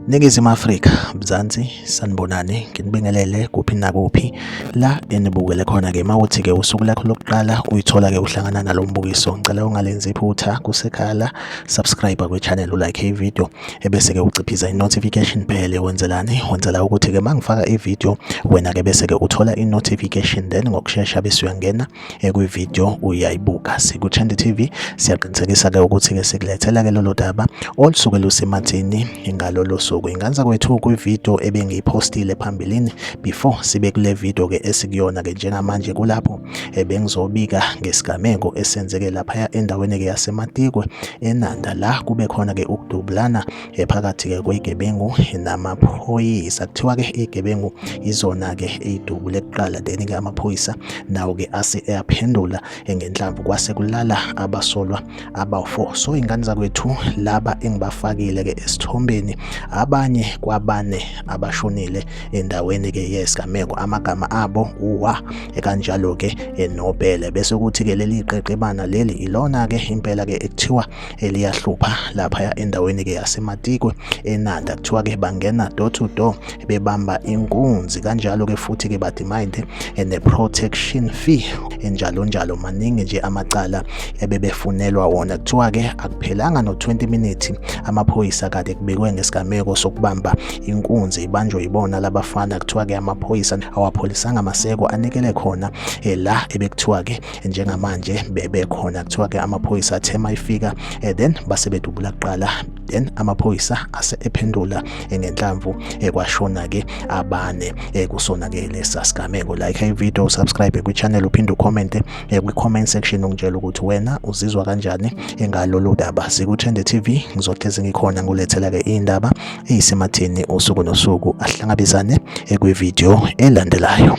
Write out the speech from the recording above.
Ningizimu Afrika, Mzansi, sanibonani, nginibingelele kuphi nakuphi la enibukele khona ke mawuthi ke usuku lakho lokuqala uyithola ke uhlangana nalombukiso. Ngicela ungalenzi iphutha kusekhala, subscribe kwe channel, ulike i video. ebese ke uciphiza i-notification bell wenzelani wenzela ukuthi ke mangifaka i-video wena ke bese ke uthola i-notification then ngokushesha bese uyangena ekwi-video uyayibuka sikuchende TV siyaqinisekisa ke ukuthi ke sikulethela ke lolo daba olusuke lusemathini ngalolo suku inganza kwethu kwi-video ebengiyipostile phambilini before sibe kule video ke esikuyona ke njengamanje kulapho ebengizobika ngesigameko esenzeke laphaya endaweni-ke yasematikwe enanda la kube khona-ke ukudubulana phakathi-ke kwegebengu namaphoyisa kuthiwa-ke igebengu izona-ke eyidubule kuqala then-ke amaphoyisa nawo-ke ase eyaphendula ngenhlamvu kwase kulala abasolwa abawu-4 so ingane zakwethu laba engibafakile ke esithombeni abanye kwabane abashonile endaweni ke yesigameko amagama abo uwa ekanjalo ke enobhele bese kuthi ke leli qeqebana leli ilona ke impela ke ekuthiwa eliyahlupha lapha endaweni ke yasematikwe enanda kuthiwa ke bangena door to door bebamba inkunzi kanjalo-ke futhi-ke badimande eh, ne-protection fee enjalo njalo maningi nje amacala ebebefunelwa wona kuthiwa-ke akuphelanga no-20 minutes amaphoyisa kade kubikwe ngesigameko sokubamba inkunzi ibanjwe yibona labafana kuthiwa-ke amaphoyisa awapholisanga maseko anikele khona eh, la ebekuthiwa-ke njengamanje bebekhona kuthiwa-ke amaphoyisa athe mayifika eh, then base bedubula kuqala then amaphoyisa ase ephendula ngenhlamvu ekwashona ke abane kusona ke lesa sigameko like i video subscribe kwi channel uphinde ucomment kwi comment section ungitshela ukuthi wena uzizwa kanjani engalolu daba sikuthende TV ngizohlezi ngikhona ngulethela ke indaba eyisematheni usuku nosuku ahlangabezane kwi video elandelayo